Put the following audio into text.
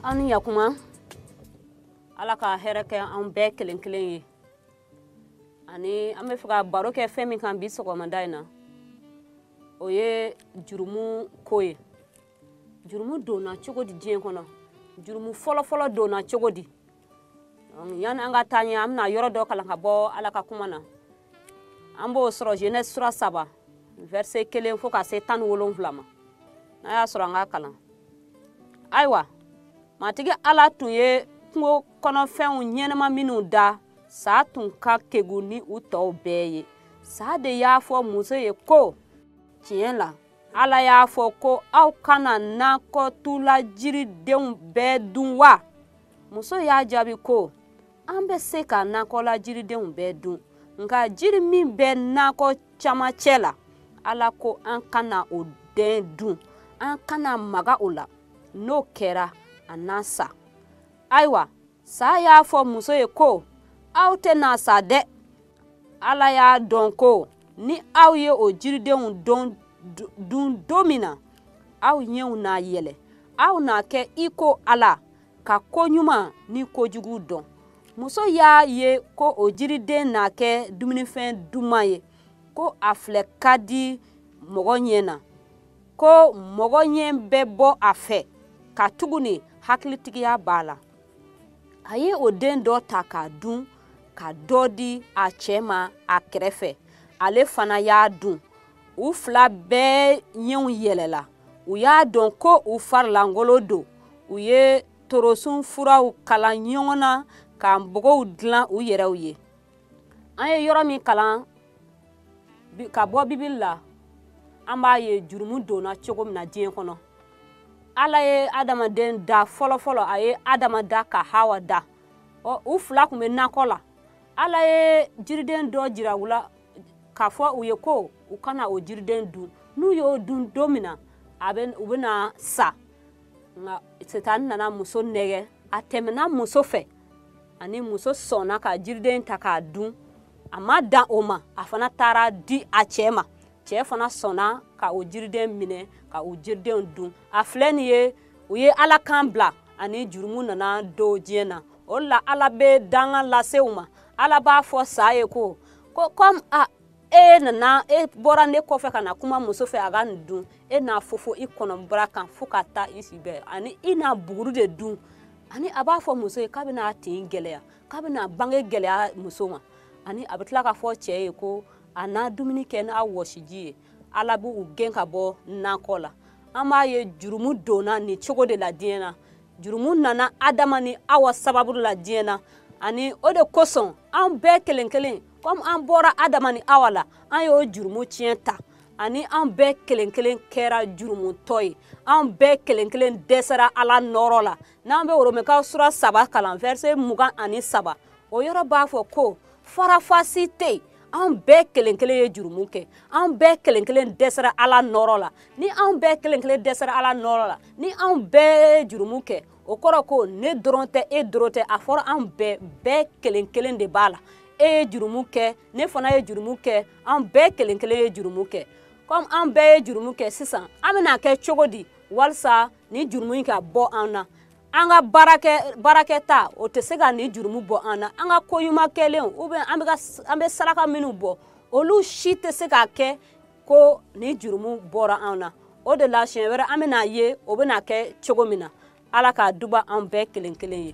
aw ni yakuma ala ka hɛrɛ kɛ anw bɛɛ kelen kelen ye ani an bɛ fɛ ka baro kɛ fɛn min kan bi sɔgɔmada in na o ye jurumu ko ye jurumu donna cogo di diɲɛ kɔnɔ jurumu fɔlɔfɔlɔ donna cogo di yani an ka taa ɲɛ an bɛna yɔrɔ dɔ kalan ka bɔ ala ka kuma na an b'o sɔrɔ genèse sura saba verset kelen fo ka se tan ni wolonwula ma n'a y'a sɔrɔ an ka kalan ayiwa matigi ala tun ye kungo kɔnɔfɛnw ɲɛnama minnu da saa tun ka kegu ni u tɔw bɛɛ ye saa de y'a fɔ muso ye ko tiɲɛ la ala y'a fɔ ko aw kana nakɔtu la jiridenw bɛɛ dun wa muso y'a jaabi ko an bɛ se ka nakɔ la jiridenw bɛɛ dun nka jiri min bɛ nakɔ camancɛ la ala ko an kana o den dun an kana maga o la n'o kɛra an na sa ayiwa sa y'a fɔ muso ye ko aw tɛna sa dɛ ala y'a dɔn ko ni aw ye o jiridenw dun don min na aw ɲɛw na yɛlɛ aw na kɛ i ko ala ka ko ɲuman ni kojugu dɔn muso y'a ye ko o jiriden na kɛ dumunifɛn duman ye ko a filɛ ka di mɔgɔ ɲɛ na ko mɔgɔ ɲɛ bɛ bɔ a fɛ katuguni hakilitigiya b'a la a ye o den dɔ ta k'a dun ka dɔ di a cɛ ma a kɛrɛfɛ ale fana y'a dun u fila bɛɛ ɲɛw yɛlɛla u y'a dɔn ko u farilankolon don u ye torosun furaw kala ɲɔgɔn na ka npogow dilan u yɛrɛw ye an ye yɔrɔ min kalan ka bɔ bibili la an b'a ye jurumu donna cogo min na diɲɛ kɔnɔ ala ye adamaden da fɔlɔfɔlɔ a ye adama da ka hawa da ɔ u fila tun bɛ nakɔ la ala ye jiriden dɔ jira u la k'a fɔ u ye ko u kana o jiriden dun n'u y'o dun don min na a bɛ u bɛna sa nka sitani nana muso nɛgɛn a tɛmɛna muso fɛ ani muso sɔnna ka jiriden ta k'a dun a ma dan o ma a fana taara a di a cɛɛ ma cɛɛ fana sɔnna ka o jiriden minɛ ka o jiridenw dun a filɛ nin ye u ye ala kan bila ani jurumu nana don diɲɛ na o la ala bɛ danga lase u ma ala b'a fɔ sa ye ko ko comme a e nana e bɔra ne kɔfɛ ka na kuma muso fɛ a ka nin dun e na fofo i kɔnɔbara kan fo ka taa i si bɛɛ ani i na buguru de dun ani a b'a fɔ muso ye k'a bɛna a tin gɛlɛya k'a bɛna bange gɛlɛya muso ma ani a bɛ tila k'a fɔ cɛ ye ko a na dumuni kɛ n'a wɔsiji ye ala b'u gɛn ka bɔ nakɔ la an b'a ye jurumu donna nin cogo de la diɲɛ na jurumu nana adama ni awa sababu la diɲɛ na ani o de kosɔn an bɛɛ kelen kelen komi an bɔra adama ni awa la an y'o jurumu tiɲɛ ta ani an bɛɛ kelen kelen kɛra jurumutɔ ye an bɛɛ kelen kelen dɛsɛra ala nɔɔrɔ la n'an bɛ oromɛkaw sura saba kalan vɛrse mugan ani saba o yɔrɔ b'a fɔ ko faranfasi tɛ yen an bɛɛ kelen kelen ye jurumu kɛ an bɛɛ kelen kelen dɛsɛra ala nɔɔrɔ la ni an bɛɛ kelen kelen dɛsɛra ala nɔɔrɔ la ni an bɛɛ ye jurumu kɛ o kɔrɔ ko ne dɔrɔn tɛ e dɔrɔn tɛ a fɔra an bɛɛ bɛɛ kelen kelen de b'a la e ye jurumu kɛ ne fana ye jurumu kɛ an bɛɛ kelen kelen ye jurumu kɛ kɔmi an bɛɛ ye jurumu kɛ sisan an bɛna kɛ cogo di walisa nin jurumu in ka bɔ an na an ka baara kɛta o tɛ se ka nin jurumu bɔ an na an ka ko ɲuman kɛlenw ou bien an bɛ saraka minnu bɔ olu si tɛ se ka kɛ ko nin jurumu bɔra anw na o de la siɲɛ wɛrɛ an bɛna ye o bɛna kɛ cogo min na ala k'a duba anw bɛɛ kelen kelen ye